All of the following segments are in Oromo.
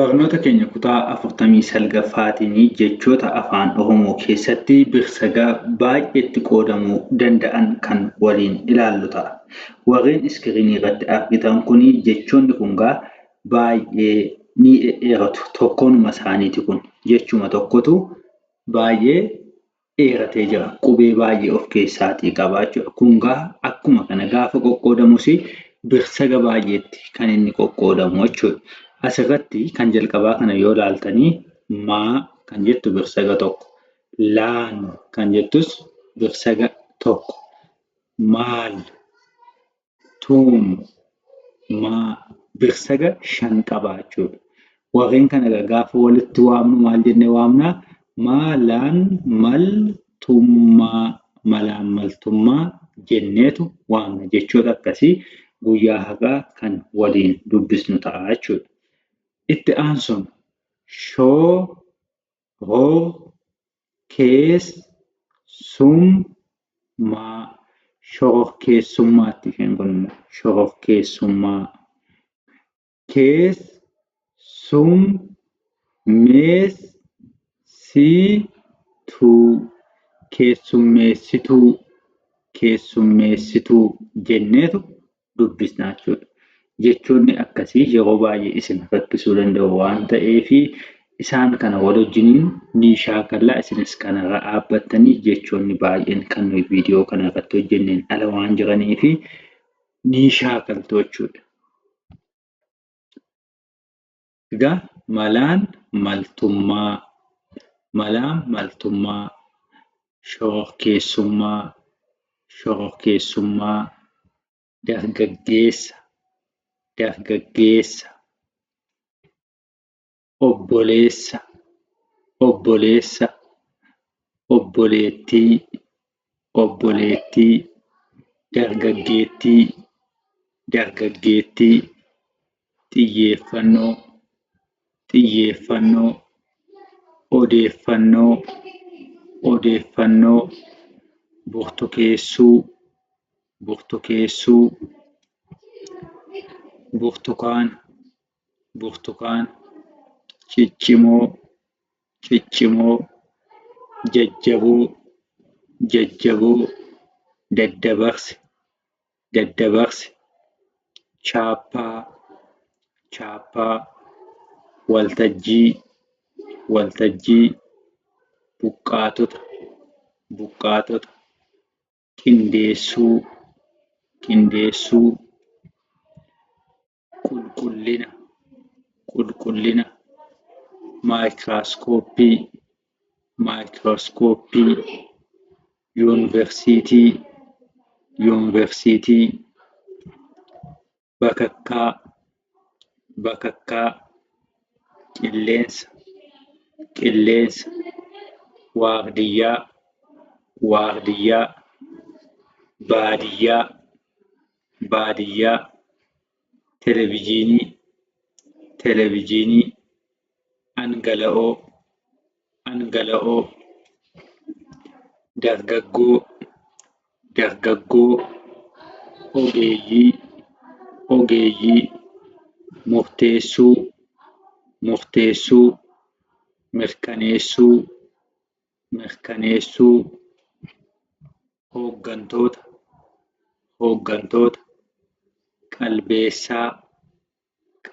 Barnoota keenya kutaa 49ffaatiini jechoota Afaan Oromoo keessatti birsaga baay'eetti qoodamuu danda'an kan waliin ilaallu ta'a. Warreen iskiriinii irratti argitan kuni jechoonni kun egaa baay'ee ni dhedheeratu. Tokkoonuma isaaniiti kun. Jechuma tokkotu baay'ee dheeratee jira. Qubee baay'ee of keessaatii qaba jechuudha. Kun gaa akkuma kana gaafa qoqqoodamus birsaga baay'eetti kan inni qoqqoodamu jechuudha. Asirratti kan jalqabaa kana yoo ilaaltanii maa kan jettu birsaga tokko, laan kan jettus birsaga tokko, maal tuun maa birsaga shan qaba jechuudha. Warreen kana egaa gaafa walitti waamnu maal jennee waamna? Maalaan maltummaa malaan maltummaa jenneetu waamna jechoota akkasii guyyaa har'aa kan waliin dubbisnu ta'a jechuudha. Itti aansuun shoo hoo kees sum maa shororkeessummaatti isheen kun immoo shororkeessummaa kees sum mees sii tuu keessummeessituu keessummeessituu jenneetu dubbisna jechuu dha. Jechoonni akkasii yeroo baay'ee isin rakkisuu danda'u waan ta'eef isaan kana wal wajjiniin ni shaakalla. Isinis kanarra dhaabbattanii jechoonni baay'een kan nuyi viidiyoo kana irratti hojjenneen ala waan jiraniif ni shaakaltu jechuudha. Ga malaan maltummaa Malaan maltummaa Shororkeessummaa Shororkeessummaa Dargaggeessa Dargaggeessa Obboleessa Obboleessa Obboleettii obboleettii dargaggeettii dargaggeettii xiyyeeffannoo xiyyeeffannoo odeeffannoo odeeffannoo burtukeessuu burtukeessuu burtukaana burtukaan, ciccimoo, ciccimoo, jajjaboo, jajjaboo, daddabarse, daddabarse, chaappaa, chaappaa, waltajjii, waltajjii, buqqaatota, buqqaatota, qindeessuu, qindeessuu. qulqullina, qulqullina, maayikiraaskooppii, maayikiraaskooppii, yuunivarsiitii, yuunivarsiitii, bakakkaa, bakakkaa, qilleensa, qilleensa, waardiyyaa, waardiyyaa, baadiyyaa. baadiyyaa televijiinii televijiinii dhangala'oo dhangala'oo dargaggoo dargaggoo ogeeyyii ogeeyyii murteessuu murteessuu mirkaneessuu mirkaneessuu hooggantoota hooggantoota qalbeessaa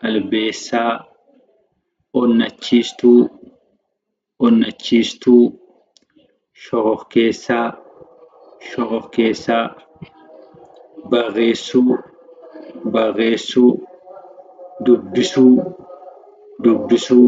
qalbeessaa onnachiistuu onnachiistuu shororkeessaa shororkeessaa barreessuu barreessuu dubbisuu dubbisuu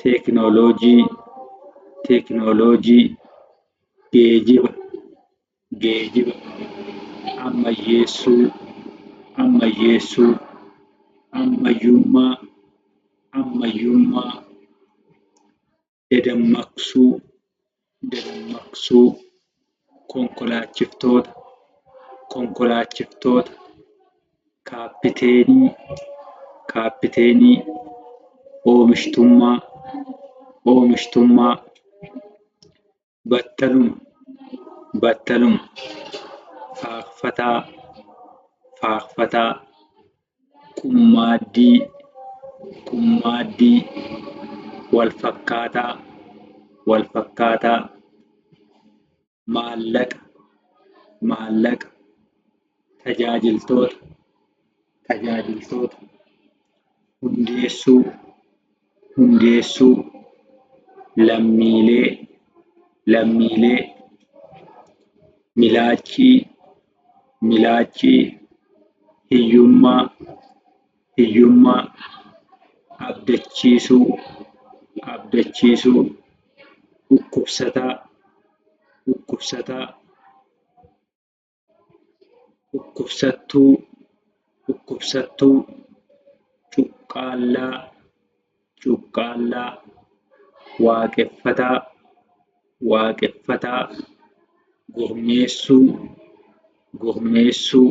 teeknooloojii teeknooloojii geejiba geejiba ammayyeessuu ammayyeessuu ammayyummaa ammayyummaa dadammaqsuu dadammaqsuu konkolaachiftoota konkolaachiftoota kaappiteenii kaappiteenii oomishtummaa oomishtummaa battaluma battaluma faaffataa faaffataa qummaaddii, qummaaddii walfakkaataa, walfakkaataa maallaqa, maallaqa tajaajiltoota, tajaajiltoota hundeessuu. hundeessuu, lammiilee, lammiilee, milaachii, milaachii, hiyyummaa, hiyyummaa, abdachiisuu, abdachiisuu, dhukkubsataa, dhukkubsataa. dhukkubsattuu dhukkubsattuu cuqqaallaa cuqqaallaa waaqeffataa waaqeffataa gurmeessuu gurmeessuu